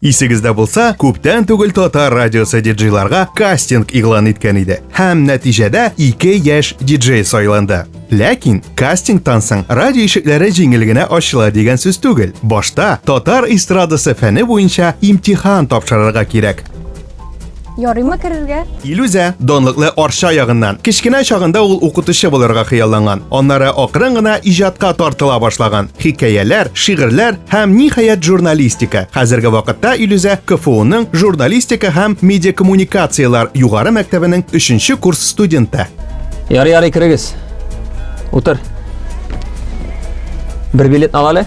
Исегездә булса, күптән түгел татар радиосы диджейларга кастинг игълан иткән иде. Һәм нәтиҗәдә ике яшь диджей сайланды. Ләкин кастингтан соң радио ишекләре җиңел генә ачыла дигән сүз түгел. Башта татар эстрадасы фәне буенча имтихан тапшырырга кирәк. Ярыймы керергә? Илүзә, данлыклы Арча ягыннан. Кечкенә чагында ул укытучы булырга хыялланган. Аннары акрын гына иҗатка тартыла башлаган. Хикәяләр, шигырьләр һәм ниһаять журналистика. Хәзерге вакытта Илүзә КФУның журналистика һәм медиакоммуникацияләр югары мәктәбенең 3 курс студенты. Ярый, ярый, керегез. Утыр. Бер билетны ал әле.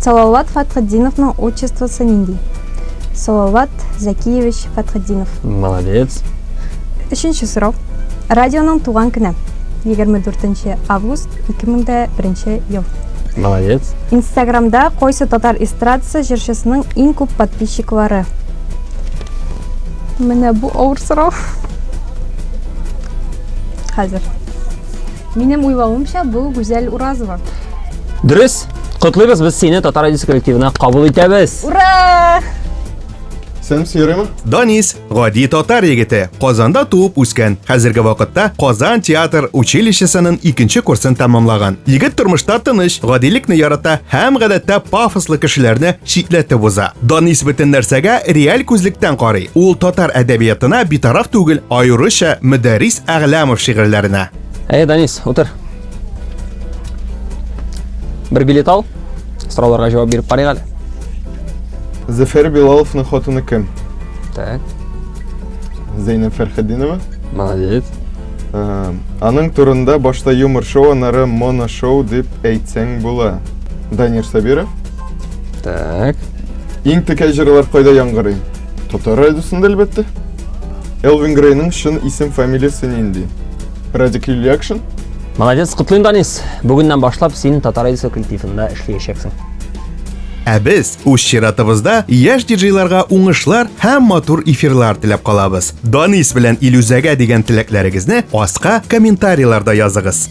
Салават Фәтхетдиновның отчествосы нинди? Салават Зәкиевич Фәтхетдинов. Молодец. Өченче сорау. Радионың туган көне. 24 август 2001 ел. Молодец. Инстаграмда кайсы татар эстрадасы җырчысының иң күп подписчиклары? Менә бу авыр сорау. Хәзер. Минем уйлавымча, бу Гүзәл Уразова. Дөрес. Котлыйбыз без сине Татар радиосы коллективына кабул итәбез. Ура! Сәлам сөйрәме? Данис, гади татар егете, Казанда туып үскән. Хәзерге вакытта Казан театр училищесының икенче курсын тәмамлаган. Егет тормышта тыныч, гадилекне ярата һәм гадәттә пафослы кешеләрне читләтеп уза. Данис бөтен нәрсәгә реаль күзлектән карый. Ул татар әдәбиятына битараф түгел, аеруча Мөдәррис Әгъләмов шигырьләренә. Әйе, Данис, утыр. Бер билет ал. Сорауларга җавап биреп карыйк әле. Зәфәр Билаловның хатыны кем? Так. Зәйнәб Фәрхетдинова. Молодец. Ә, Аның турында башта юмор шоу, аннары моно шоу дип әйтсәң була. Данир Сабиров. Так. Иң текә җырлар кайда яңгырый? Татар радиосында әлбәттә. Элвин Грейның чын исем-фамилиясе нинди? Радик Ильякшин? Молодец, котлыйм, Данис. Бүгеннән башлап син Татар радиосы коллективында эшләячәксең. Ә без үз чиратыбызда яшь диджейларга уңышлар һәм матур эфирлар теләп калабыз. Данис белән Илюзәгә дигән теләкләрегезне аска комментарийларда языгыз.